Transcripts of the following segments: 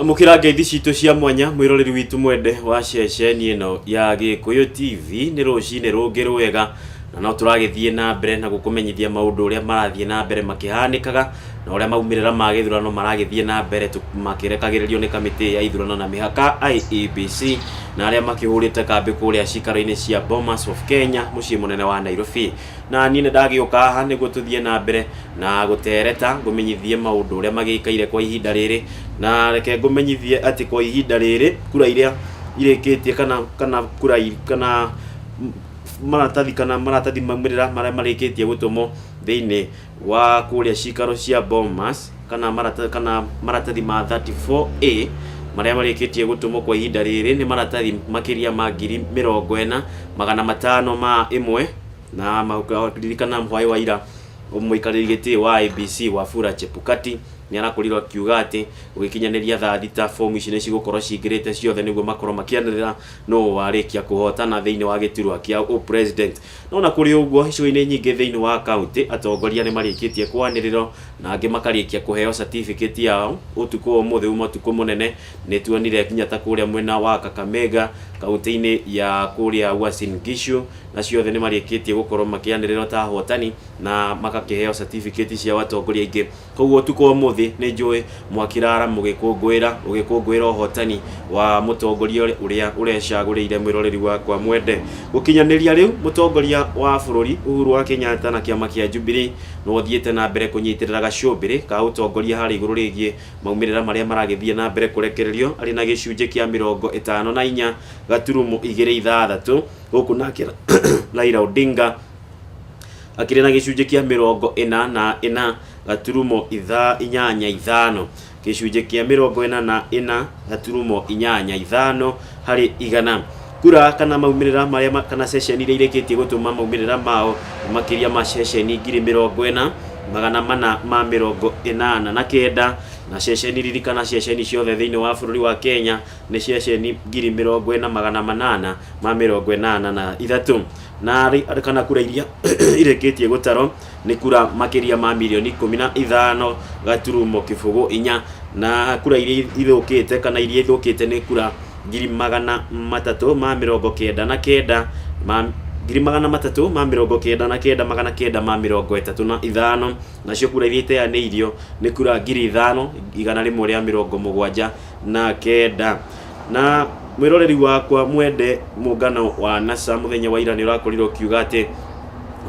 Amũkĩra ngeithi citũ cia mwanya mwĩroreri witũ mwende wa ceceni ĩno ya Gĩkũyũ TV nĩ rũcinĩ rũngĩ rwega na no tũragĩthiĩ na mbere na gũkũmenyithia maũndũ ũrĩa marathiĩ na mbere makĩhanĩkaga na ũrĩa maumĩrĩra ma gĩthurano maragĩthiĩ na mbere tũ- makĩrekagĩrĩrio nĩ kamĩtĩ ya ithurano na mĩhaka IEBC na arĩa makĩhũrĩte kambĩ kũrĩa cikaro-inĩ cia Bomas of Kenya mũciĩ mũnene wa Nairobi Na niĩ nĩndagĩũka haha nĩguo tũthiĩ na mbere na gũteereta, ngũmenyithie maũndũ ũrĩa magĩikaire kwa ihinda rĩrĩ. Na reke ngũmenyithie atĩ kwa ihinda rĩrĩ, kura iria irĩkĩtie kana kana kura kana maratathi kana maratathi maumĩrĩra marĩa marĩkĩtie gũtũmwo thĩinĩ wa kũrĩa cikaro cia Bomas kana marata- kana maratathi ma 34A marĩa marĩkĩtie gũtũmwo kwa ihinda rĩrĩ nĩ maratathi makĩria ma ngiri mĩrongo ĩna magana matano ma ĩmwe na maririkana hwaĩ wa ira mũikarĩri gĩtĩ wa IBC Wafula Chebukati nĩ arakorirwo akiuga atĩ gũgĩkinyanĩria thaa thita fomu ici nĩ cigũkorwo cingĩrĩte ciothe nĩguo makorwo makĩanĩrĩra nũ warĩkia kũhotana thĩinĩ wa gĩturwa kĩa ũ president No ona kũrĩ ũguo, icigo-inĩ nyingĩ thĩinĩ wa kauntĩ, atongoria nĩ marĩkĩtie kwanĩrĩrwo na angĩ makarĩkia kũheo certificate yao. Ũtukũ wa ũmũthĩ uma ũtukũ mũnene, nĩ tuonire nginya ta kũrĩa mwena wa Kakamega, kauntĩ-inĩ ya kũrĩa Uasin Gishu, acio othe nĩ marĩkĩtie gũkorwo makĩanĩrĩrwo ta ahotani na magakĩheo certificate ciao atongoria aingĩ. Kwoguo ũtukũ wa ũmũthĩ nĩ njũĩ mwakĩraara mũgĩkũngũĩra ũgĩkũngũĩra ũhotani wa mũtongoria ũrĩa ũrecagũrĩire mwĩroreri wakwa mwende. Gũkinyanĩria rĩu, mũtongoria wa bũrũri Uhuru wa Kenyatta na kĩama kĩa Jubilee no ũthiĩte na mbere kũnyitĩrĩra gacũmbĩrĩ ka ũtongoria harĩ igũrũ rĩgiĩ maumĩrĩra marĩa maragĩthiĩ na mbere kũrekererio arĩ na gĩcunjĩ kĩa mĩrongo ĩtano na inya gaturumo igĩrĩ ithathatũ gũkũ nake Raila Odinga Akĩrĩ na gĩcunjĩ kĩa mĩrongo ĩna na ĩna gaturumo itha, inyanya ithano. Gĩcunjĩ kĩa mĩrongo ĩna na ĩna gaturumo inyanya ithano harĩ igana. Kura kana maumĩrĩra marĩa ma, kana ceceni iria irĩkĩtie gũtũma maumĩrĩra mao nĩ makĩria ma ceceni ngiri mĩrongo ĩna, magana mana ma mĩrongo ĩnana na kenda, na ceceni, ririkana ceceni ciothe thĩinĩ wa bũrũri wa Kenya nĩ ceceni ngiri mĩrongo ĩna magana manana ma mĩrongo ĩnana na ithatũ na arĩ- kana kura iria irĩkĩtie gũtarwo nĩ kura makĩria ma mirioni ikũmi na ithano gaturumo kĩbũgũ inya na kura iria ithũkĩte kana iria ithũkĩte nĩ kura ngiri magana matatũ ma mĩrongo kenda na kenda ma ngiri magana matatũ ma mĩrongo kenda na kenda magana kenda ma mĩrongo ĩtatũ na ithano nacio kura iria iteanĩirio nĩ kura ngiri ithano igana rĩmwe rĩa mĩrongo mũgwanja na kenda na mwĩroreri wakwa mwende mũngano wa nasa mũthenya wa ira nĩ ũrakorirwo ũkiuga atĩ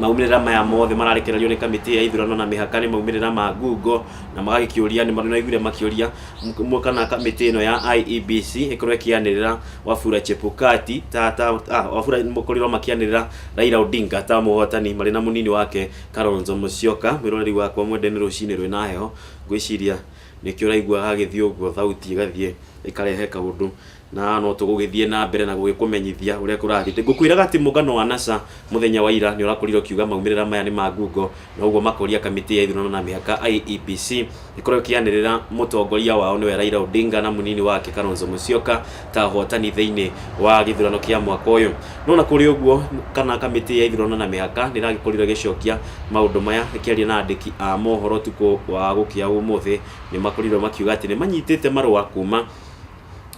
maumĩrĩra maya mothe mararekererio nĩ kamĩtĩ ya ithurano na mĩhaka nĩ maumĩrĩra ma ngungo na magagĩkĩũria nĩ maraiguire makĩũria m- kana kamĩtĩ ĩno ya IEBC ĩkorwo ĩkĩanĩrĩra Wafula Chebukati ta ta ah, Wafula mũkorirwo makĩanĩrĩra Raila Odinga ta mũhotani marĩ na mũnini wake Kalonzo Musyoka mwĩroreri wakwa mwende nĩ rũcinĩ rwĩna heho ngwĩciria Nĩkĩo ũraigua hagĩthiĩ ũguo thauti ĩgathiĩ ĩkarehe kaũndũ na no tũgũgĩthiĩ na mbere na gũgĩkũmenyithia ũrĩa kũrathiĩ. Ngũkwĩraga atĩ mũngano wa NASA mũthenya wa ira nĩ ũrakorirwo ũkiuga maumĩrĩra maya nĩ ma ngungo na ũguo makoria kamĩtĩ ya ithurano na mĩhaka IEBC ĩkorwo ĩkĩanĩrĩra mũtongoria wao nĩwe Raila Odinga na mũnini wake Kalonzo Musyoka ta ahotani thĩinĩ wa gĩthurano kĩa mwaka ũyũ. No na kũrĩ ũguo, kana kamĩtĩ ya ithurano na mĩhaka nĩ ĩragĩkorire ĩgĩcokia maũndũ maya ĩkĩaria na andĩki a mohoro ũtukũ wa gũkĩa ũmũthĩ. Nĩ makorirwo makiuga atĩ nĩ manyitĩte marũa kuma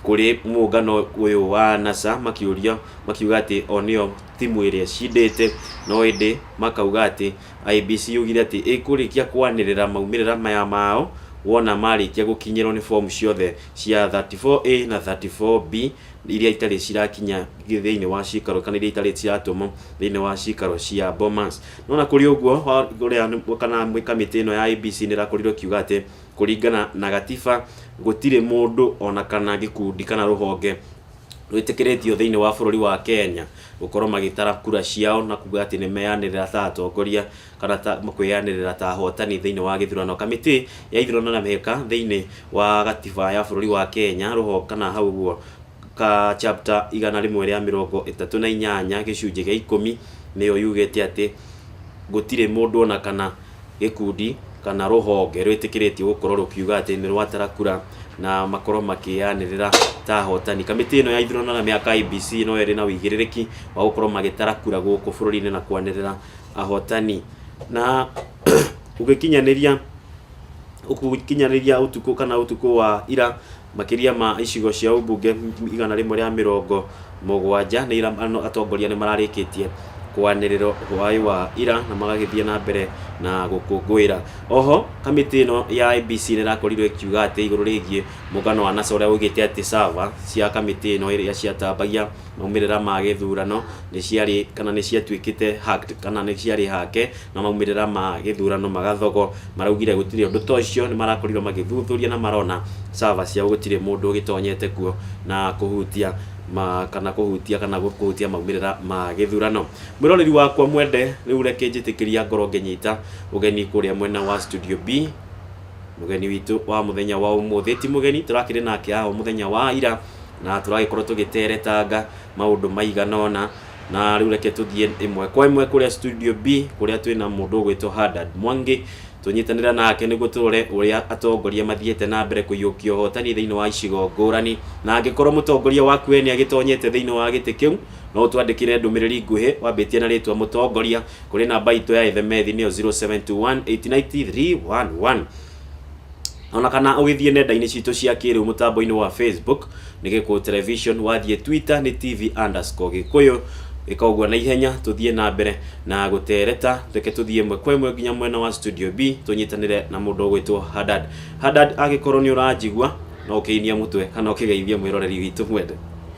kũrĩ mũũngano ũyũ wa NASA makĩũria, makiuga atĩ o nĩo timu ĩrĩa ĩcindĩte, no ĩndĩ makauga atĩ IEBC yugire atĩ ĩkũrĩkia kwanĩrĩra maumĩrĩra maya maao wona marĩkia gũkinyĩrwo nĩ fomu ciothe cia 34A na 34B iria itarĩ cirakinya thĩinĩ wa ciikaro kana iria itarĩ ciratũmwo thĩinĩ wa ciikaro cia Bomas. No ona kũrĩ ũguo, ũrĩa kana kamĩtĩ ĩno ya IEBC nĩrakorirwo ĩkiuga atĩ kũringana na gatiba gũtirĩ mũndũ ona kana gĩkundi kana rũhonge rwĩtĩkĩrĩtio thĩinĩ wa bũrũri wa Kenya gũkorwo magĩtara kura ciao na kuga atĩ nĩ meyanĩrĩra ta atongoria kana ta kwĩyanĩrĩra ta ahotani thĩinĩ wa gĩthurano. Kamĩtĩ ya ithurano na mĩhĩka thĩinĩ wa gatiba ya bũrũri wa Kenya rũho kana hau ũguo ka chapter igana rĩmwe rĩa mĩrongo ĩtatũ na inyanya gĩcunjĩ gĩa ikũmi nĩyo yugĩte atĩ gũtirĩ mũndũ ona kana gĩkundi kana rũhonge rwĩtĩkĩrĩtio gũkorwo rũkiuga atĩ nĩ rwatara kura na makorwo makĩyanĩrĩra ta ahotani. Kamĩtĩ ĩno ya ithurano na mĩaka IBC no ĩrĩ na ũigĩrĩrĩki wa gũkorwo magĩtara kura gũkũ bũrũri-inĩ na kwanĩrĩra ahotani. Na ũgĩkinyanĩria ũgĩkinyanĩria ũtukũ kana ũtukũ wa ira Makĩria ma icigo cia ũmbunge igana rĩmwe rĩa mĩrongo mũgwanja nĩ ira ano atongoria nĩ mararĩkĩtie kwanĩrĩro hwaĩ wa ira na magagĩthiĩ na mbere na gũkũngũĩra. Oho kamĩtĩ ĩno ya IEBC nĩ ĩrakorirwo ĩkiuga atĩ igũrũ rĩgiĩ mũngano wa NASA ũrĩa waugĩte atĩ server cia kamĩtĩ ĩno ĩrĩa ciatambagia Maumĩrĩra ma gĩthurano nĩ ciarĩ kana nĩ ciatuĩkĩte hacked kana nĩ ciarĩ hake na maumĩrĩra ma gĩthurano magathogo. Maraugire gũtirĩ ũndũ ta ũcio, nĩ marakorirwo magĩthuthuria na marona server ciao gũtirĩ mũndũ ũgĩtonyete kuo na kũhutia kana kũhutia kana kũhutia maumĩrĩra ma gĩthurano. Mwĩroreri wakwa mwende, rĩu reke njĩtĩkĩria ngorwo ngĩnyita ũgeni kũrĩa mwena wa Studio B. Mũgeni witũ wa mũthenya wa ũmũthĩ ti mũgeni, tũrakĩrĩ nake haha o mũthenya wa ira. Na tũragĩkorwo tũgĩteretanga maũndũ maigana ũna, na rĩu reke tũthiĩ ĩmwe kwa ĩmwe kũrĩa studio B kũrĩa twĩ na mũndũ ũgwĩtwo Hadad Mwangi, tũnyitanĩre nake nĩguo tũrore ũrĩa atongoria mathiĩte na mbere kũiyũkia ũhotani thĩinĩ wa icigo ngũrani. Na angĩkorwo mũtongoria waku we nĩ agĩtonyete thĩinĩ wa gĩtĩ kĩu, no ũtwandĩkĩre ndũmĩrĩri nguhĩ wambĩtie na rĩtwa mũtongoria kũrĩ namba itũ ya ethemethi nĩyo 0721899311. ona kana ũgĩthiĩ nenda-inĩ citũ cia kĩrĩu mũtambo-inĩ wa facebook nĩ gĩkũ television wathiĩ twitter nĩ tv underscore gĩkũyũ ĩka ũguo na ihenya tũthiĩ na mbere na gũtereta reke tũthiĩ ĩmwe kwa ĩmwe nginya mwena wa studio b tũnyitanĩre na mũndũ ũgwĩtwo hadad hadad angĩkorwo nĩ ũranjigua no ũkĩinie mũtwe kana ũkĩgeithie mwĩroreri witũ mwende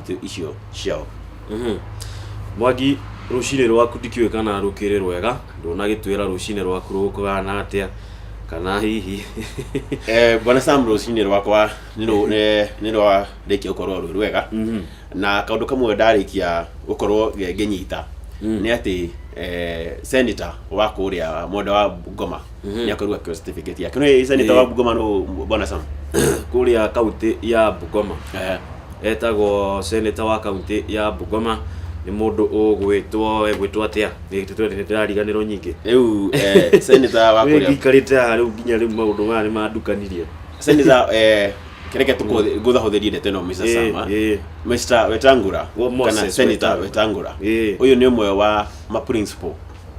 itũ icio ciao Mhm. mwangi rũcinĩ rwaku ndikĩũĩ kana rũkĩrĩ rwega ndũnagĩtwĩra rũcinĩ rwaku rũkũgana atĩa kana hihi Eh, bwana sam rũcinĩ rwakwa nĩ rũ- nĩ- nĩ rwarĩkia gũkorwo rwĩ rwega Mhm. na kaũndũ kamwe ndarĩkia gũkorwo ngĩ- ngĩnyita Mm. nĩ atĩ eh, senator wa kũrĩa mwenda wa ngoma nĩakorwo akĩoya certificate yake no ĩca nĩtawa Eh. bugoma no bwana sam kuria kaunti ya bugoma Eh, etagwo seneta wa kaunti ya bugoma nĩ mũndũ ũgwĩtwo egwĩtwo atĩa nĩndĩrariganĩrwo nyingĩ rĩu eh, seneta wa kũrĩa gĩikarĩte haha rĩu nginya rĩu maũndũ maya nĩmandukanirie seneta eh, kereke tũkũ- ngũthahũthĩrie ndeto ĩno Mr. Eh, Sama. eh. Mr. wetangura Wo- Moses kana seneta Wetangula. wetangura Eh. ũyũ nĩ ũmwe wa ma principal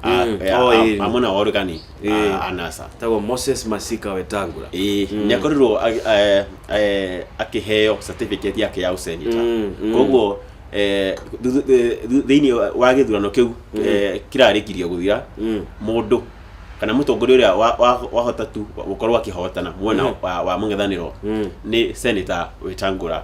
Ah, Mm. eh, Oh, ah, eh. amwe na wori kani Eh. ah, anasa tagwo moses masika wetangura Eh, Mm. nĩakorirwo ag- eh, eh, akĩheo certificate yake ya ũsenita Mm, mm. koguo eh, thu- eh, thu- thĩinĩ wa- wa gĩthurano kĩu eh, kĩrarĩkirio gũthira Mm. mũndũ kana mũtongoria ũrĩa wa- wa- wahota tu gũkorwo akĩhotana mwena Mhm. wa wa mũng'ethanĩro Mm. nĩ seneta wetangũra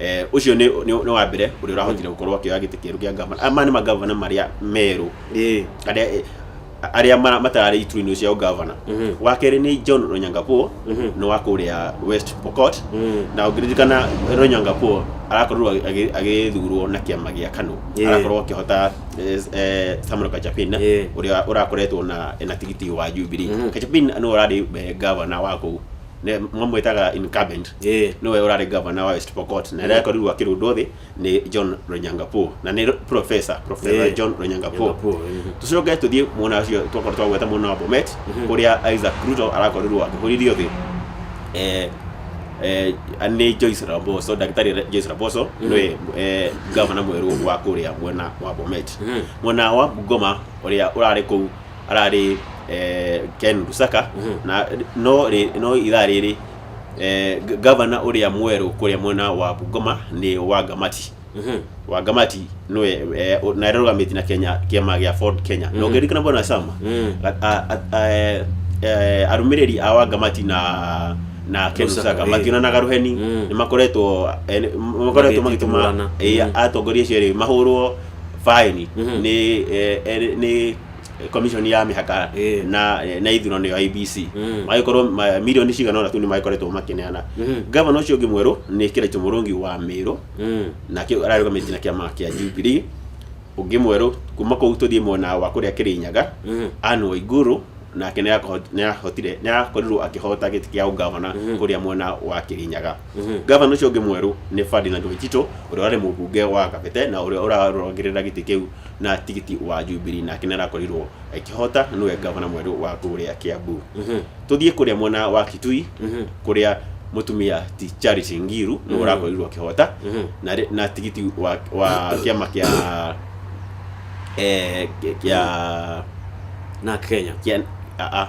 Eh, ucio ni ni ni wa mbere uria urahotire gukorwo akioya giti kieru kia ngavana aya maya ni magavana maria meru Eh, aria eh, aria mara- matararĩ iturwa-inĩ cia ũgavana Mhm. wa kerĩ nĩ john ronyangapuo Mhm. nĩ wa kũrĩa west pokot Mm. na ũngĩririkana ronyangapuo arakorirwo agĩ- agĩ- agĩthurwo na kĩama gĩa kano Yeah. arakorwo akĩhota eh, eh, samuel kachapin Yeah. ũrĩa ũrakoretwo na na tigiti wa jubilee Mhm. kachapin nĩ ũrarĩ eh, gavana wa kũu ne- mamwĩtaga incumbent Eh. nĩwe ũrarĩ gavana wa west pokot na rĩrĩa akorirwo akĩrundwo thĩ nĩ john ronyangapur na nĩ professor professor Eh. john ronyangapur Nyangapur, mhm. tũcoke tũthiĩ mwena ũcio twakorwo twagweta mwena wa bomet kũrĩa isaac ruto arakorirwo akĩhũririo thĩ eh, eh, nĩ joyce ramboso ndagĩtarĩ Ra- joyce ramboso nĩwe eh, gavana mwerũ wa kũrĩa mwena wa bomet Mhm. mwena wa bungoma ũrĩa ũrarĩ kũu ararĩ eh, Ken Lusaka na no rĩ- no ithaa rĩrĩ eh, g- gavana ũrĩa mwerũ kũrĩa mwena wa Bungoma nĩ Wangamati Wangamati nĩwe eh, o- na arũgamĩtie na Kenya kĩama gĩa Ford Kenya na ũngĩririkana bwana Sama Mm. a- a- a- eh, eh, arũmĩrĩri a Wangamati na na Ken Lusaka, Lusaka eh. mationanaga rũheni Mm. nĩ makoretwo eh, nĩ- makoretwo Magĩtitimũrana. magĩtũma eh, Mm. atongoria acio erĩ mahũrwo baĩni Mhm. nĩ eh, eh, nĩ commission ya mĩhaka Eh. na eh, na ithurano ya IBC Mm. magĩkorwo ma- milioni cigana ũna tu nĩ magĩkoretwo makĩneana Mhm. gavana ũcio ũngĩ mwerũ nĩ Kĩraitu Mũrũngi wa Mĩrũ Mm. nake ararũgamĩtie na kĩama kĩa Jubilee ũngĩ mwerũ kuma kũu tũthiĩ mwena wa kũrĩa Kĩrĩnyaga Mhm. Anne Waiguru nake nĩarakoho- nĩarahotire nĩarakorirwo akĩhota gĩtĩ kĩa ũgavana Mhm. kũrĩa mwena wa Kĩrĩnyaga Gavana ũcio ũngĩ mwerũ nĩ Ferdinand Waitito ũrĩa warĩ mũbunge wa Kabete na ũrĩa ũrarũagĩrĩra gĩtĩ kĩu na tigiti wa Jubilee nake nĩ arakorirwo akĩhota na nĩwe gavana mwerũ wa kũrĩa Kiambu. Tũthiĩ kũrĩa mwena wa Kitui kũrĩa mũtumia ti Charity Ngiru nĩwe ũrakorirwo akĩhota na rĩ- na tigiti wa wa kĩama kĩa eh, kĩa na Kenya kĩa a- a-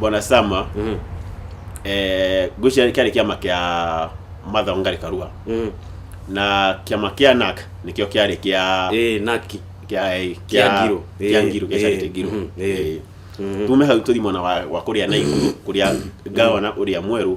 bwana sama Mm. eh, ngwĩciria kĩarĩ kĩama kĩa mathaũ ngarĩ karua Mm. na kĩama kĩa nak nĩkĩo kĩarĩ kĩa Eh, naki kĩa eh, Kĩa kĩa- Ngiro. kĩa Eh, ngiro kĩa eh, charity ngiro mhm, eh. Eh. Mhm. tume hau tũthi mwena wa wa kũrĩa na iguru kũrĩa ngavana ũrĩa mwerũ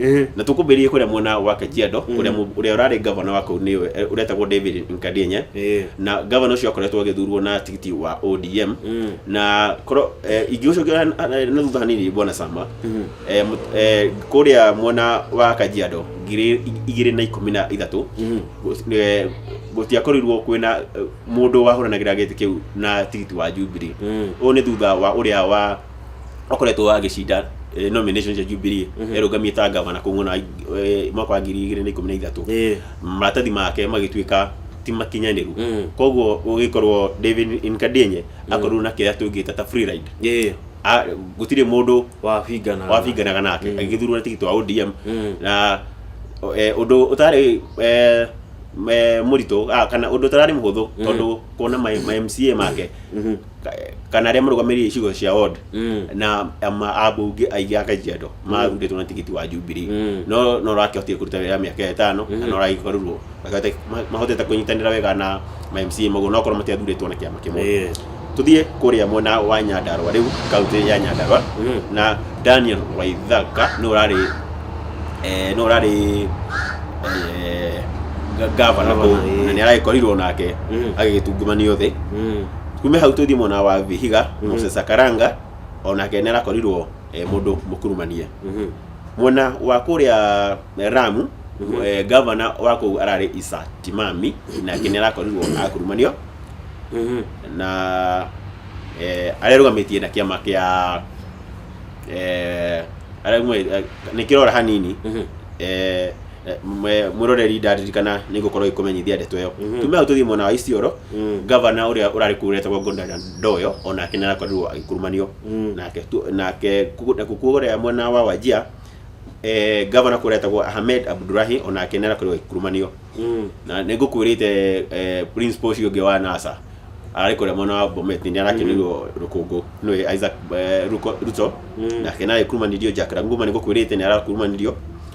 Eh, na tukumbirie kuria mwena wa Kajiado kuria mu- uria urari governor wa kuu ni uretagwo David Nkadienye eh, na governor ucio akoretwo agithurwo na tigiti wa ODM mm, na koro eh, ingĩgũcokia na- na na thutha hanini bwana Sama mm, eh, mut- eh, kuria mwena wa Kajiado ngiri igĩrĩ na ikũmi na ithatũ mm, gũ- eh, gũtiakorirwo kwĩna eh, mũndũ wahũranagĩra gĩtĩ kĩu na tigiti wa Jubilee mm. ũyũ nĩ thutha wa ũrĩa wa akoretwo agĩcinda eh, nomination cia Jubilee Mhm. erũgamie ta gavana kũng'una eh, mwaka wa ngiri igĩrĩ na ikũmi na ithatũ Ĩĩ. maratathi make magĩtuĩka ti makinyanĩru Mm. koguo ũgĩkorwo David Nkadienye akorwo na kĩrĩa tũngĩta ta free ride Ĩĩ. A- gũtirĩ mũndũ wabingana wabinganaga nake Mm. agĩthurwo na tigiti wa ODM Mm. na o- eh, ũndũ ũtarĩ eh, me- mũritũ ah, kana ũndũ ũtararĩ mũhũthũ tondũ kuona ma ma MCA make Mhm. ka- kana arĩa marũgamĩrĩire icigo cia ward Mm. na ama- ambunge aingĩ a kajiado marutĩtwo na tigiti wa jubilee Mm. no no rakĩhotire kũruta wĩra mĩaka ĩtano na no ragĩkorwo Makahota- ma- mahotete kũnyitanĩra wega na ma mca maguo nokorwo matiathurĩtwo na kĩama kĩmwe Eh. tuthiĩ kũrĩa mwena wa nyandarwa rĩu kaunti ya nyandarwa Mm. na daniel waithaka nĩ ũrarĩ eh, nĩ ũrarĩ eh, ga- gavana Gavana, kũu eh. na nĩ aragĩkorirwo nake Mm. agĩgĩtungumanio thĩ Mm. kume hau tũthiĩ mwena wa vihiga Mhm. moses akaranga onake nĩ arakorirwo eh, mũndũ mũkurumanie Mhm. mwena wa kũrĩa eh, ramu Mhm. eh, gavana wa kũu ararĩ isa timami nake nĩ arakorirwo akurumanio Mhm. na eh, arĩa rũgamĩtie na kĩama kĩa eh, arĩa mwe- eh, nĩ kĩrora hanini Mhm. eh, eh, mwe- mwĩroreri ndaririkana nĩ ngũkorwo ikũmenyithia ndeto ĩyo Mhm. tume hau tũthiĩ mwena wa isioro Mm. gavana ũrĩa ũrarĩ kuu retagwo gondana ndoyo onake nĩ arakorirwo agĩkurumanio Mm. nake tu- nake ku- na kukuo ũrĩa mwena wa wajia eh, gavana kũrĩa etagwo ahmed abdurahi onake nĩ arakorirwo agĩkurumanio Mm. na nĩ ngũkuĩrĩte eh, principal ũcio ũngĩ wa nasa ararĩ kũrĩa mwena wa bomet nĩ arakĩnĩirwo rũkũngũ nĩwe isaac eh, Ruko- ruto Mm. nake nĩ arakurumanirio jack ranguma nĩ ngũkuĩrĩte nĩ arakurumanirio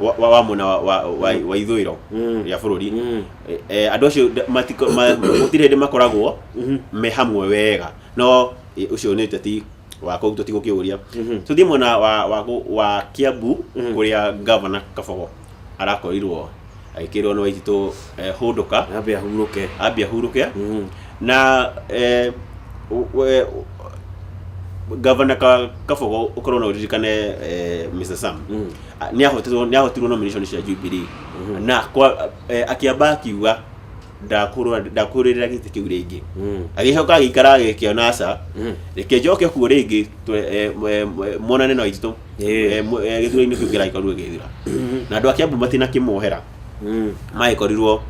wa, wa, wa mwena wa, wa, wa, wa ithũĩro Mm. rĩa bũrũri Mm. Eh, eh, andå acio nda- matiko- ma- gũtirĩ hĩndĩ makoragwo Mhm. me hamwe wega no eh, ũcio nĩ ũteti wa kũu tũtigũkĩũria Mhm. tũthiĩ mwena wa, wa, gũ- wa kiambu Mhm. kũrĩa ngavana kabogo arakorirwo agĩkĩrwo nĩ waititũ eh, hũndũka Ambe ahurũke. ambia hurũke Mm. na eh, u- we- u- gavana ka- kabogo ũkorwo na ũririkane eh, mr sam Mm. nä ahotirwo nä ahotirwo nomination cia Jubilee na kwa eh, akiamba akiuga ndakũrũa ndakũrĩrĩra gĩtĩ kĩu rĩngĩ Mm. agĩcoka agĩikara agĩkĩona aca Mm. reke njoke kuo rĩngĩ twe- eh, mwe- mwe- muonane na aitũ Ĩĩ. gĩthurainĩ kĩu kĩragĩkorwo gĩgĩthira na andũ a Kiambu matinakĩmuohera mm. magĩkorirwo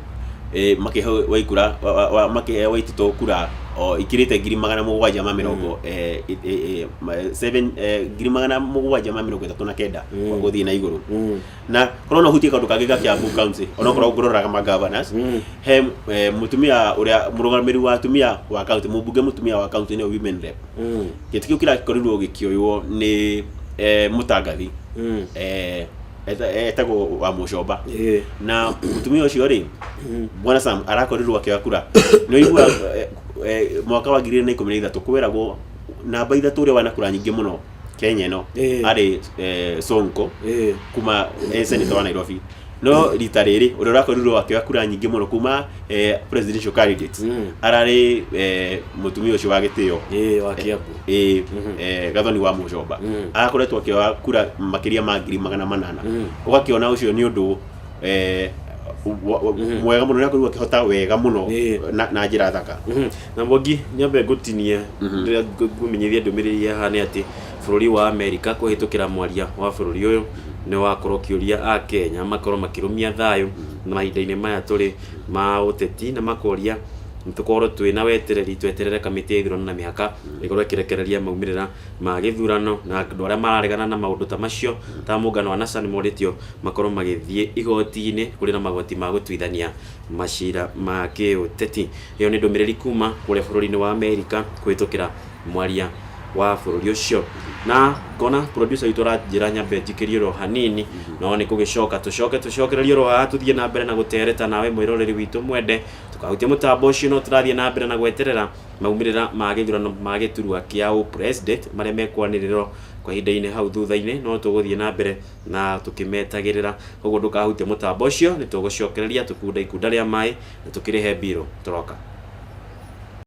eh, makĩheo waikura wa- wa- wa- makĩheo waititũ kura o ikirĩte ngiri magana mũgwanja ma mĩrongo eh, eh, eh, ma- seven, eh, ngiri magana mũgwanja ma mĩrongo ĩtatũ na kenda Mm. gũthiĩ na igũrũ Mm. na korwo no hutie kaundu kangä ga kiambu county onokorwo ngororaga ma governors Mm. he eh, mutumia uria murugamiri wa atumia wa county mumbunge mutumia wa county ni women rep Mm. gä tä kä u kä rakorirwo gä kä oywo nä eh, må tangathi Mm. eh, eta- etagwo wa mũcomba Eh. na mũtumia ũcio rĩ bwana sam arakorirwo akĩoya kura nĩ ũigua eh, eh, mwaka wa ngiri igĩrĩ na ikũmi na ithatũ kwĩragwo namba ithatũ ũrĩa wana kura nyingĩ mũno kenya ĩno Eh. arĩ eh, sonko Eh. kuma eh, senator wa nairobi no rita rĩrĩ ũrĩa ũrakorirwo akĩoya kura nyingĩ mũno kuma eh, presidential candidates Mm. ararĩ eh, mũtumia ũcio wa gĩtĩo Eh, wa Kiambu. ĩĩ eh, gathoni wa mũcomba arakoretwo akĩoya kura makĩria ma ngiri magana manana ũgakĩona ũcio nĩ ũndũ eh, wa- wa- mwega mũno nĩakorirwo akĩhota wega mũno Ĩĩ. na- na njĩra thaka Mhm. na mwangi nyambe ngũtinie rĩrĩa ngũ- ngũmenyithia ndũmĩrĩri haha nĩ atĩ bũrũri wa amerika kũhĩtũkĩra mwaria wa bũrũri ũyũ nĩ wakorwo ũkĩũria a kenya makorwo makĩrũmia thayũ na mahinda-inĩ maya tũrĩ ma ũteti na makoria Nĩtũkorwo twĩ na wetereri tweterere kamĩtĩ ya ithurano na mĩhaka ĩkorwo ĩkĩrekereria maumĩrĩra ma gĩthurano na andũ arĩa mararegana na maũndũ ta macio ta mũngano wa NASA nĩmorĩtio makorwo magĩthiĩ igoti-inĩ kũrĩ na magoti ma gũtuithania macira ma kĩũteti. Ĩyo nĩ ndũmĩrĩri kuma kũrĩa bũrũri-inĩ wa Amerika kũhĩtũkĩra mwaria wa bũrũri ũcio. Na ngona producer witũ aranjĩra nyambe njikĩrie oro hanini no nĩkũgĩcoka tũcoke tũcokererie oro haha tũthiĩ na mbere na gũtereta nawe mwĩroreri witũ mwende. Tũkahutia mũtambo ũcio no tũrathiĩ na mbere na gweterera maumĩrĩra ma gĩthurano ma gĩturwa kĩa ũpresident marĩa mekwanĩrĩrwo kwa ihinda-inĩ hau thutha-inĩ no tũgũthiĩ na mbere na tũkĩmetagĩrĩra. Koguo ndũkahutie mũtambo ũcio, nĩ tũgũcokereria tũkunda ikunda rĩa maĩ na tũkĩrĩhe mbirũ. Tũroka.